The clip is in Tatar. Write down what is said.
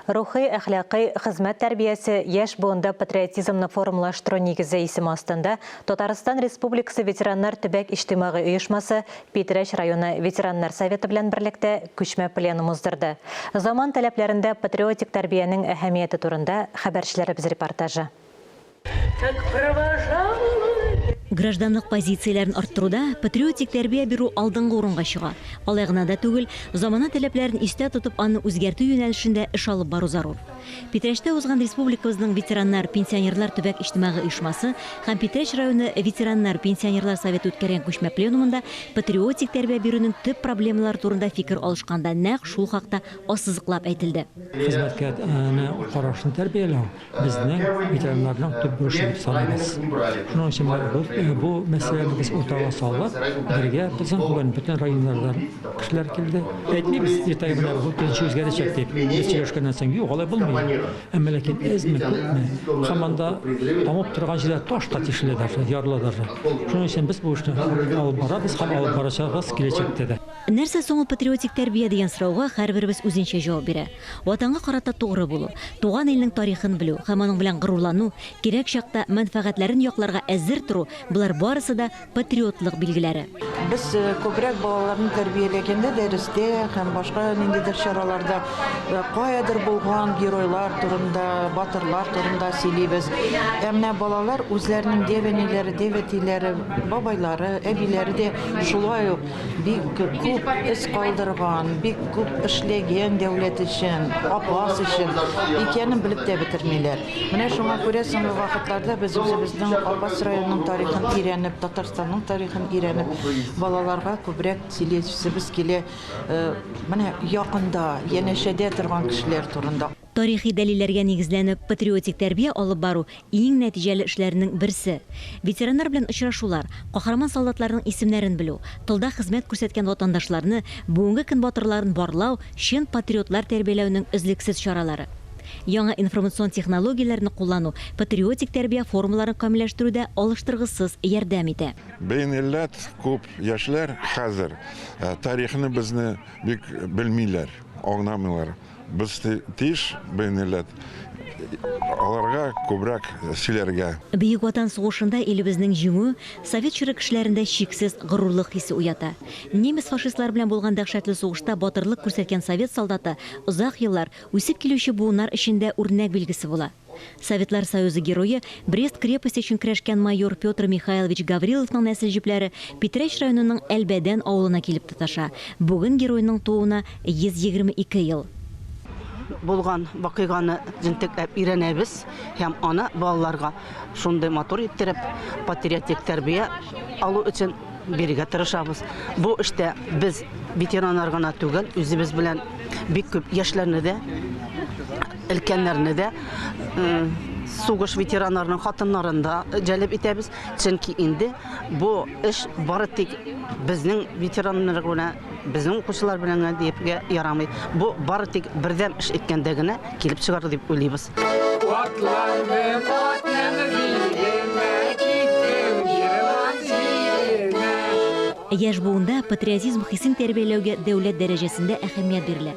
Рухи, әхлакый, хезмәт тәрбиясе, яшь буында патриотизмны формалаштыру нигезе исеме астында Татарстан Республикасы ветераннар төбәк иҗтимагый оешмасы Питрәч районы ветераннар советы белән берлектә күчмә пленум уздырды. Заман таләпләрендә патриотик тәрбиянең әһәмияте турында хәбәрчеләребез репортажы. Как провожала. Гражданлык позицияләрен арттыруда патриотик тәрбия бирү алдынгы урынга чыга. Алай гына да түгел, замана таләпләрен истә тотып, аны үзгәртү юнәлешендә эш алып бару зарур. Питрәчтә узган республикабызның ветераннар, пенсионерлар төбәк иҗтимагый оешмасы һәм Питрәч районы ветераннар, пенсионерлар советы үткәргән күчмә пленумында патриотик тәрбия бирүнең төп проблемалары турында фикер алышканда нәкъ шул хакта ассызыклап әйтелде. Хезмәткә карашны тәрбияләү. безне ветеринарның төп бурычы дип саныйбыз. Шуның өчен менә бу, бу мәсьәләне без уртага салып, бергә безнең бүген бөтен районнардан кешеләр килде. Әйтмибез, иртәгә менә бу төзүче үзгәрәчәк дип. Без сөйләшкәннән соң, юк, алай булмый. Әмма ләкин әзме, күпме, һаман да тамып торган җирдә таш та тишелә даже, ярыла даже. Шуның өчен без бу эшне алып барабыз һәм алып барачакбыз киләчәктә дә. Нәрсә соң ул патриотик тәрбия дигән сорауга һәрберебез үзенчә җавап бирә. Ватанга карата тугры булу, туган илнең тарихын белү һәм аның белән горурлану, кирәк чакта мәнфәгатьләрен якларга әзер тору, болар барысы да патриотлык билгеләре. Без күбрәк балаларны тәрбияләгәндә дәрестә һәм башка ниндидер чараларда каядыр булган геройлар турында, батырлар турында сөйлибез. Ә менә балалар үзләренең дәвәниләре, дәвәтиләре, бабайлары, әбиләре дә шулай ук. Бик күп эз калдырган, бик күп эшләгән дәүләт өчен, апас өчен икәнен белеп тә бетермиләр. Менә шуңа күрә соңгы вакытларда без үзебезнең Апас районының тарихын өйрәнеп, Татарстанның тарихын өйрәнеп, балаларга күбрәк сөйләсебез килә, менә якында, янәшәдә торган кешеләр турында. Тарихи дәлилләргә нигезләнеп патриотик тәрбия алып бару, иң нәтиҗәле эшләрнең берсе. Ветераннар белән очрашулар, каһарман солдатларның исемнәрен белү, тылда хезмәт күрсәткән ватандашларны, бүгенге көн батырларын барлау, чын патриотлар тәрбияләүнең өзлексез чаралары. Яңа информацион технологияләрне куллану патриотик тәрбия формаларын камилләштерүдә алыштыргысыз ярдәм итә. Бенелләт күп яшьләр хәзер тарихны безне бик белмиләр, аңламыйлар. Без тиеш бу милләт аларга күбрәк сөйләргә. Бөек Ватан сугышында илебезнең җиңүе совет чоры кешеләрендә чиксез горурлык хисе уята. Немец-фашистлар белән булган дәһшәтле сугышта батырлык күрсәткән совет солдаты озак еллар үсеп килүче буыннар өчен дә үрнәк билгесе була. Советлар Союзы Герое, Брест крепосте өчен көрәшкән майор Петр Михайлович Гавриловның нәсел җепләре Питрәч районының Әлбәдән авылына килеп тоташа. Бүген геройның тууына 122 ел. Булган вакыйганы җентекләп өйрәнәбез һәм аны балаларга шундый матур иттереп, патриотик тәрбия алу өчен бирергә тырышабыз. Бу эштә без ветераннар гына түгел, үзебез белән бик күп яшьләрне дә Өлкәннәрне дә сугыш ветераннарының хатыннарын да җәлеп итәбез, чөнки инде бу эш бары тик безнең ветераннар гына, безнең укучылар белән генә диепгә ярамый. Бу бары тик бердәм эш иткәндә генә килеп чыгар дип уйлыйбыз. Яшь буында патриотизм хисен тәрбияләүгә дәүләт дәрәҗәсендә әһәмият бирелә.